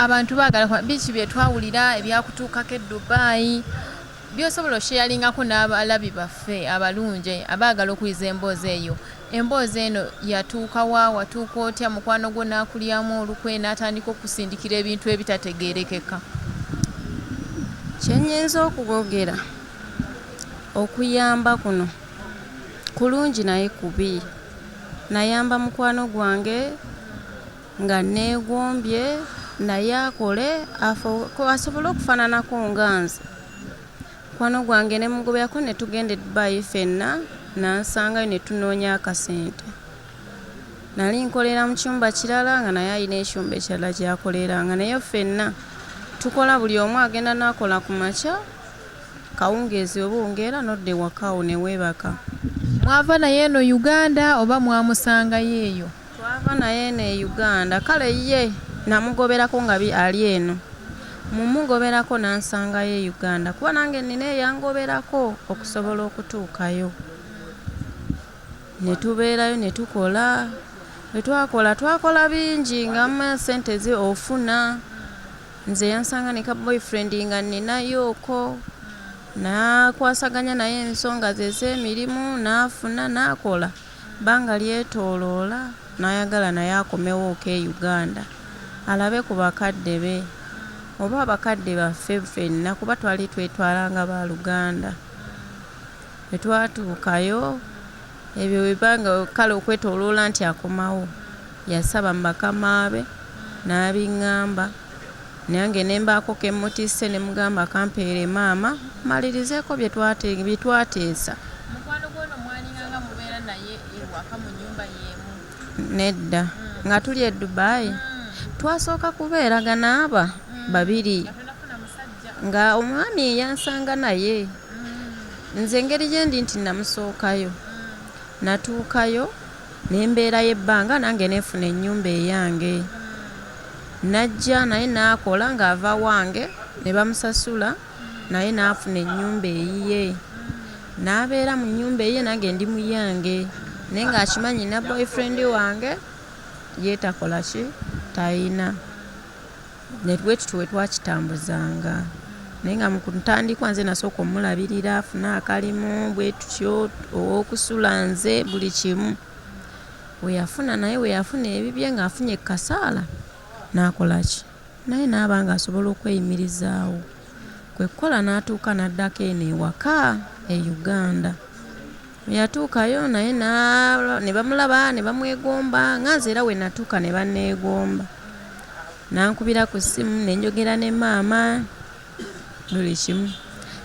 Abantu bagala kwa biki byetwawulira ebyakutuukako e Dubai byosobola osheyalingako n'abalabi baffe abalungi abaagala okuyiza emboozi eyo. Emboozi eno yatuuka wa, watuuka otya, mukwano gwo n'akulyamu olukwe n'atandika okukusindikira ebintu ebitategeerekeka. Kye nnyinza okugogera okuyamba kuno kulungi naye kubi. Nayamba mukwano gwange. Nga nneegombye naye akole afuuke asobole okufaananako nga nze. Mukwano gwange ne mugoberako ne tugenda e Dubai ffenna n'ansangayo ne tunoonya akasente. Nali nkolera mu kyumba kirala nga naye alina ekyumba ekirala ky'akoleranga naye ffenna tukola buli omu agenda n'akola ku makya, akawungeezi bwe buwungeera n'odda ewaka awo ne weebaka. Mwava naye eno Uganda oba mwamusangayo eyo? Twava naye eno e Uganda kale ye namugoberako nga ali eno. Mu mugoberako nansangayo e Uganda kuba nange nnina eyangoberako okusobola okutuukayo ne tubeerayo ne tukola. Bwe twakola twakola bingi nga mumanya ssente ze ofuna. Nze yansanga ne ka boyfriend nga nninayooko nakwasaganya naye ensonga ze ez'emirimu nafuna nakola. Bbanga lyetoloola n'ayagala naye akomewooko e Uganda alabe ku bakadde be oba abakadde baffe ffenna kuba twali twetwala nga ba luganda. Bwe twatuukayo ebyo bwe bbanga kale okwetoloola nti akomawo yasaba mu bakama be n'abingamba. Nange ne mbaako ke mmutisse ne mugamba kampeere maama mmalirizeeko bye twateesa. Mukwano gw'ono mwalina nga mubeera naye ewaka mu nnyumba y'emu? Nedda. Nga tuli e Dubai? Twasooka kubeeragana ba babiri nga omwami yansanga naye nze engeri gye ndi nti namusookayo natuukayo Ne mbeerayo ebbanga nange ne nfuna ennyumba eyange. Najja naye n'akola ng'ava wange ne bamusasula naye n'afuna ennyumba eyiye. N'abeera mu nnyumba eyiye nange ndi mu yange naye ng'akimanyi nnina boyfriend wange ye takola ki, talina. Ne bwe tutyo bwe twakitambuzanga. Naye nga mu ku ntandikwa nze nasooka omulabirira afune akalimu bwe tutyo, ow'okusula nze, buli kimu. We yafuna naye we yafuna ebibye ng'afunye ku kasaala n'akola ki? Naye n'aba ng'asobola okweyimirizaawo. Kwe kukola n'atuuka n'addako eno ewaka e Uganda. Bwe yatuukayo naye ne bamulaba ne bamwegomba nga nze era we natuuka ne banneegomba. N'ankubira ku ssimu ne njogera ne maama buli kimu.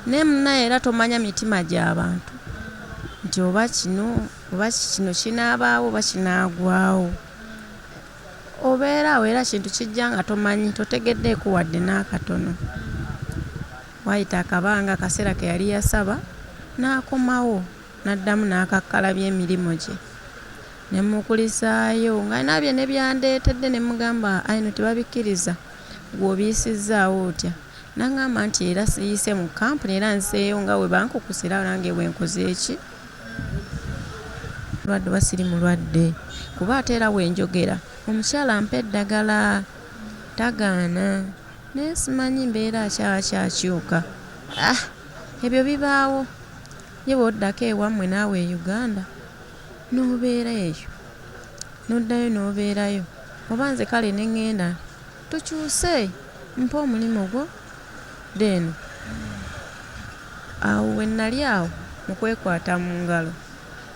Naye munnaaye era tomanya mitima gya bantu nti oba kino oba kino kinaabaawo oba kinaagwawo. Obeera awo era ekintu kijja nga tomanyi totegeddeeko wadde n'akatono. Waayita akabanga, akaseera ke yali yasaba n'akomawo n'addamu n'akakkalabya emirimu gye ne mmukulisaayo ng'alina bye ne byandeetedde ne mmugamba ayi no tebabikkiriza ggwe obiyisizzaawo otya n'aŋŋamba nti era siyise mu kkampuni era nzeeyo nga bwe bankukusa era nange bwe nkoze ki mulwadde oba siri mulwadde kuba ate era we njogera omukyala ampa eddagala tagaana. Naye simanyi mbeera ki aba kyakyuka ah ebyo bibaawo ye bw'oddako ewammwe naawe e Uganda n'obeera eyo n'oddayo n'obeerayo oba nze kale ne ngenda tukyuse mpa omulimu gwo then awo we nnali awo mu kwekwata mu ngalo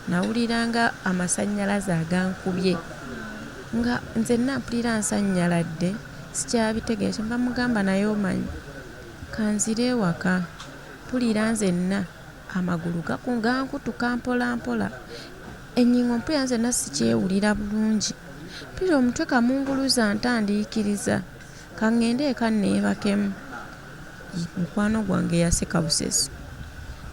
nawulira nga amasannyalaze agankubye nga nzenna mpulira nsanyaladde. Sikyabitegera kyenva mugamba naye omanyi kanzire ewaka mpulira nzenna amagulu gankutuka mpola mpola enyingo mpulira nzenna sikyewulira bulungi mpulira omutwe kamunguluze antandiikiriza kangende eka nebakemu. Mukwano gwange yaseka busesi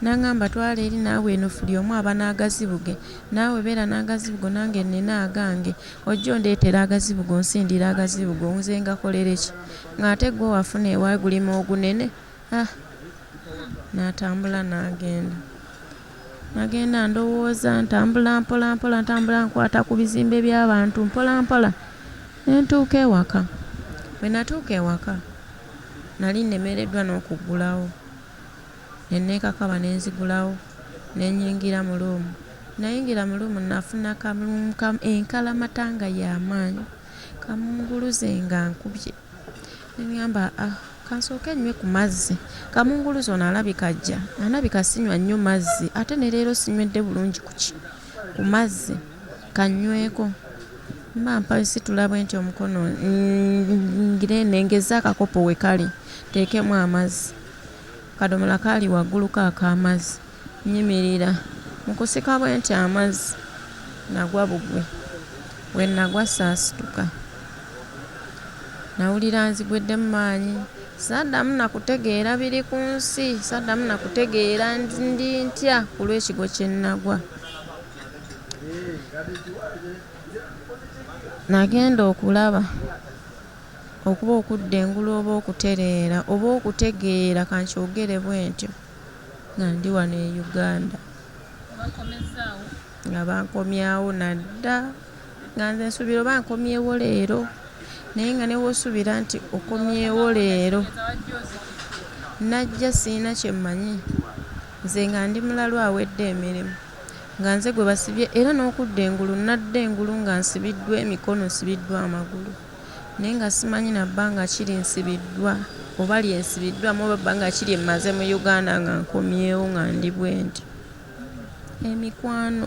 n'angamba, Twala eri naawe eno fuli omu aba n'agazibu ge. Naawe beera n'agazibu go nange nnina agange. Ojja ondeetera agazibu go onsindire agazibu go nze ngakolere ki? Ng'ate ggwe wafuna ewa gulima ogunene? Ah! Natambula n'agenda. Nagenda ndowooza, ntambula mpola mpola, ntambula nkwata ku bizimbe by'abantu mpola mpola ne ntuuka ewaka. Bwe natuuka ewaka. Nali nnemereddwa n'okuggulawo, ne nneekakaba ne nzigulawo ne nnyingira mu luumu. Nnayingira mu luumu nnafuna ka luumu ka enkalamata nga ya maanyi, ka munguluze nga nkubye. Ne ŋŋamba ah kansooke nnywe ku mazzi, ka munguluze ono alabika ajja, alabika sinywa nnyo mazzi ate ne leero sinywedde bulungi ku ki ku mazzi. Kannyweeko. Mba mpansitula bwenti omukono nnyingire nnengezze akakopo we kali nteekemu amazzi. Akadomola kaali waggulu ko ak'amazzi. Nnyimirira. Mu kusika bwenti amazzi, nnagwa bugwi. Bwe nnagwa saasituka. Nnawulira nzigweddemu maanyi. Saddamu na kutegeera biri ku nsi. Saddamu na kutegeera ndi ntya ku lw'ekigwo kye nnagwa. Nagenda okulaba okuba okudda engulu oba okutereera oba okutegeera ka nkyogere bwentyo nga ndi wano e Uganda nga bankomyawo nadda nga nze nsuubira oba nkomyewo leero naye nga ne w'osuubira nti okomyewo leero najja sirina kye mmanyi nze nga ndi mulalu awedde emirimu. nga nze gwe basibye era n'okudda engulu nnadda engulu nga nsibiddwa emikono, nsibiddwa amagulu naye nga simanyi na bbanga ki lye nsibiddwa oba lye nsibiddwaamu oba bbanga ki lye mmaze mu Uganda nga nkomyewo nga ndi bwenti. Emikwano.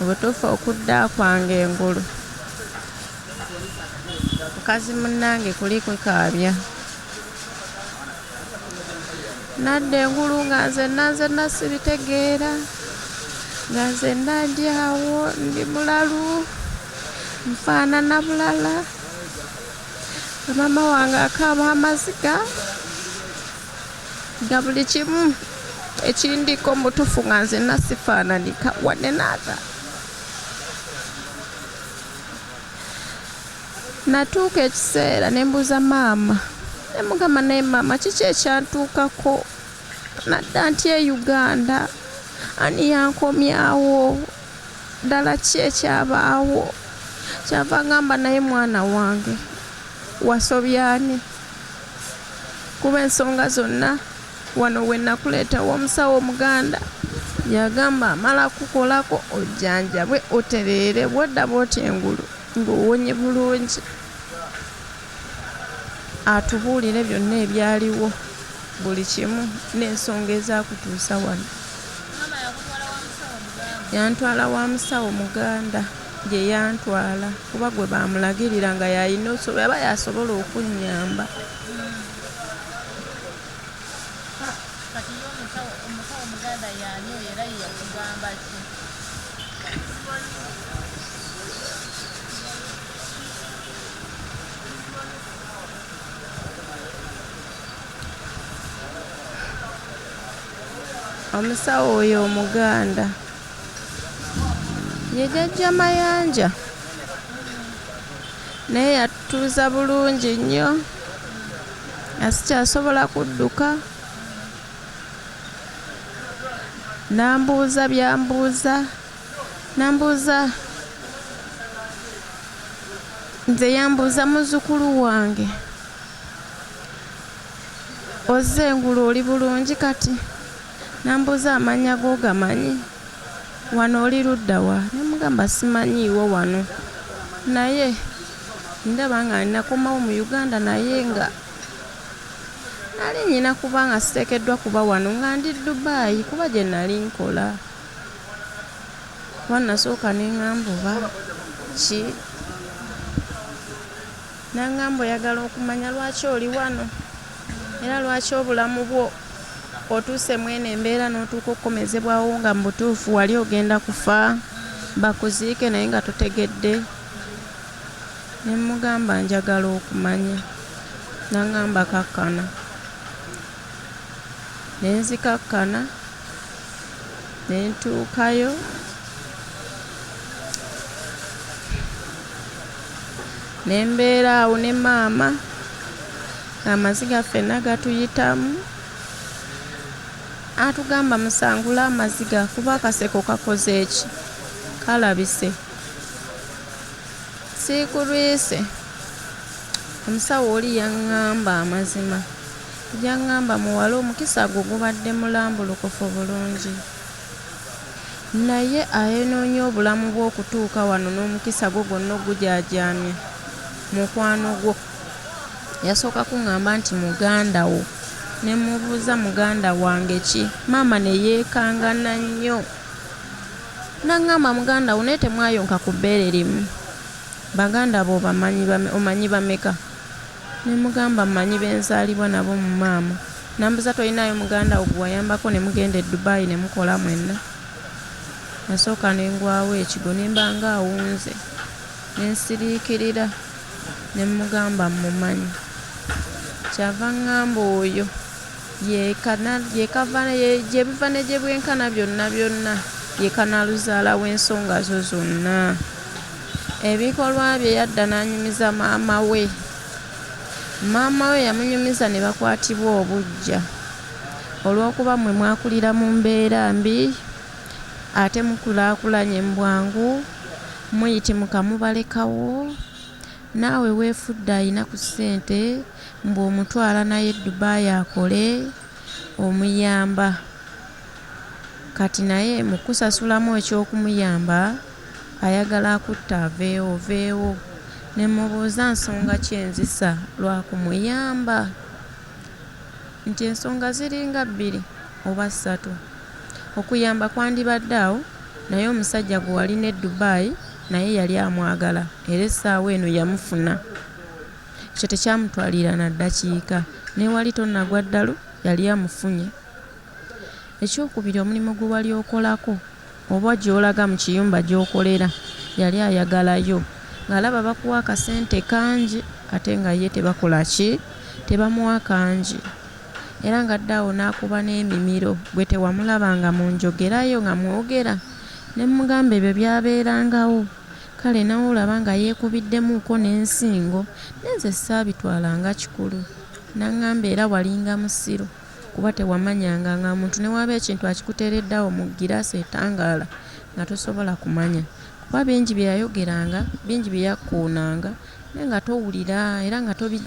obutuufu okudda kwange engulu mukazi munnange kuli kwekaabya nadda engulu nga nze nanze nasibitegeera nga nze nandi awo ndi mulalu nfaanana bulala Maama wange akaaba amaziga nga buli kimu ekindiko mutufu nga nze nasifaananika wadde naata natuuka ekiseera ne mbuuza maama ne mugamba naye maama kiki ekyantuukako nadda nti e uganda ani yankomyawo Ddala ki ekyabaawo? Kyava agamba, Naye mwana wange, wasobya ani? Kuba ensonga zonna wano we nakuleeta ew'omusawo Omuganda, yagamba amala kukukolako ojjanjabwe otereere bw'odda bw'oti engulu ng'owonye bulungi. Atubuulire byonna ebyaliwo, buli kimu, n'ensonga ezaakutuusa wano. Yantwala wa musawo muganda gye yantwala kuba gwe baamulagirira nga y'alina obusobozi aba y'asobola okunnyamba. omusawo oyo omuganda ye jajja mayanja naye yatutuuza bulungi nnyo asikyasobola kudduka nambuuza byambuuza Nambuuza nze yambuuza muzzukulu wange ozze engulu oli bulungi kati nambuuza amannya g'ogamanyi wano oli ludda wa ne mugamba simanyiiwo wano naye ndaba nga ninakomawo mu uganda naye nga nali nyina kuba nga siteekeddwa kuba wano nga ndi dubaayi kuba gye nali nkola Kuba nasooka ne ŋŋamba oba ki. N'aŋŋamba oyagala okumanya lwaki oli wano era lwaki obulamu bwo otuuse mu eno embeera n'otuuka okukomezebwawo nga mu butuufu wali ogenda kufa bakuziike naye nga totegedde. Ne mmugamba njagala okumanya. N'aŋŋamba kakkana. ne nzikakkana ne ntuukayo ne mbeera awo ne maama ng'amaziga ffenna gatuyitamu atugamba musangule amaziga kuba akaseko kakoze eki kalabise siikulwise omusawo oli yaŋŋamba amazima Gyangamba muwala omukisa gwo gubadde mulambulukufu bulungi naye ayenoonya obulamu bwo okutuuka wano n'omukisa gwo gwonna ogujaajaamya mukwano gwo yasooka kungamba nti muganda wo ne mmubuuza muganda wange ki maama ne yeekangana nnyo n'aŋŋamba muganda wo naye temwayonka ku bbeere limu baganda bo omanyi bameka Ne mugamba mmanyi be nzaalibwa nabo mu maama. N'ambuza tolinaayo muganda wo gwe wayambako ne mugenda e Dubai ne mukola mwenna? Nasooka ne ngwawo ekigwo ne mba nga awunze ne nsiriikirira ne mmugamba mmumanyi. Ky'ava ang'amba oyo. Ye Canal, ye kava, ye gye biva ne gye bwenkana byonna byonna, ye kanaaluzaala w'ensonga zo zonna. Ebikolwa bye yadda n'anyumiza maama we. Maama we yamunyumiza ne bakwatibwa obuggya. Olw'okuba mmwe mwakulira mu mbeera mbi ate mukulaakulanye mu bwangu, muyitimuka mubalekawo, naawe weefudde alina ku ssente, Mbu omutwala nayo e Dubai akole omuyamba Kati naye mukukusasulamu ekyokumuyamba ayagala akutte aveewo oveewo nemubuuza nsonga ki enzisa lwakumuyamba nti ensonga ziringa bbiri oba ssatu okuyamba kwandibadde awo naye omusajja gwewalina e Dubai naye yali amwagala era essaawa eno yamufuna. Ekyo tekyamutwalira na ddakiika. N'ewali tonnagwa ddalu, yali amufunye. Eky'okubiri, omulimu gwe wali okolako oba gy'olaga mu kiyumba gy'okolera, yali ayagalayo. Ng'alaba bakuwa akasente kangi ate nga ye tebakola ki? Tebamuwa kangi. Era ng'adda awo n'akuba n'emimiro. Ggwe tewamulabanga mu njogera yo nga mwogera ne mmugamba ebyo byabeerangawo? Kale nawe olaba nga yekubiddemuuko ne nsingo naye nze ssaabitwala nga kikulu. Nangamba era walinga musiru kuba tewamanyanga nga omuntu newaaba ekintu akikuteeredde awo mu giraasi etangaala nga tosobola kumanya kuba bingi bye yayogeranga, bingi bye yakkuunanga naye nga towulira era nga tobijjingiranga.